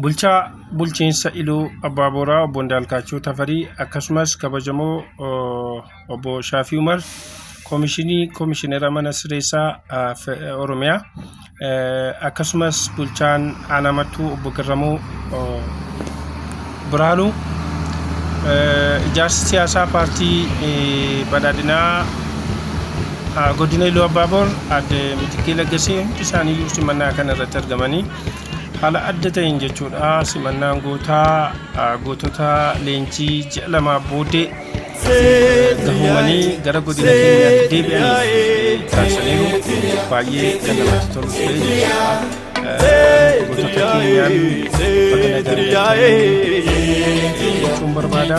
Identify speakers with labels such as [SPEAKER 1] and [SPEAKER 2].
[SPEAKER 1] Bulchaa bulchiinsa Iluu Abbaa Booraa obbo Indaalkaachoo Tafarii akkasumas kabajamoo obbo Shaafii Umar Koomishinii Koomishinera Mana Sireessaa Oromiyaa akkasumas bulchaan Aanaa Mattuu obbo Garramuu Birhaanuu ijaarsi siyaasaa paartii badhaadhinaa godina Iluu Abbaa Boor adde Mitikkee Laggasee hundi isaanii simannaa kana irratti argamanii Haala adda ta'een jechuudha simannaan gootaa gootota leenjii ji'a lamaa booddee gahumanii gara godina keenyaatti deebi'an taasisaniiru baay'ee kan namatti tolu ture jechuudha gootota keenyaan baga nagaan galtanii jechuun barbaada.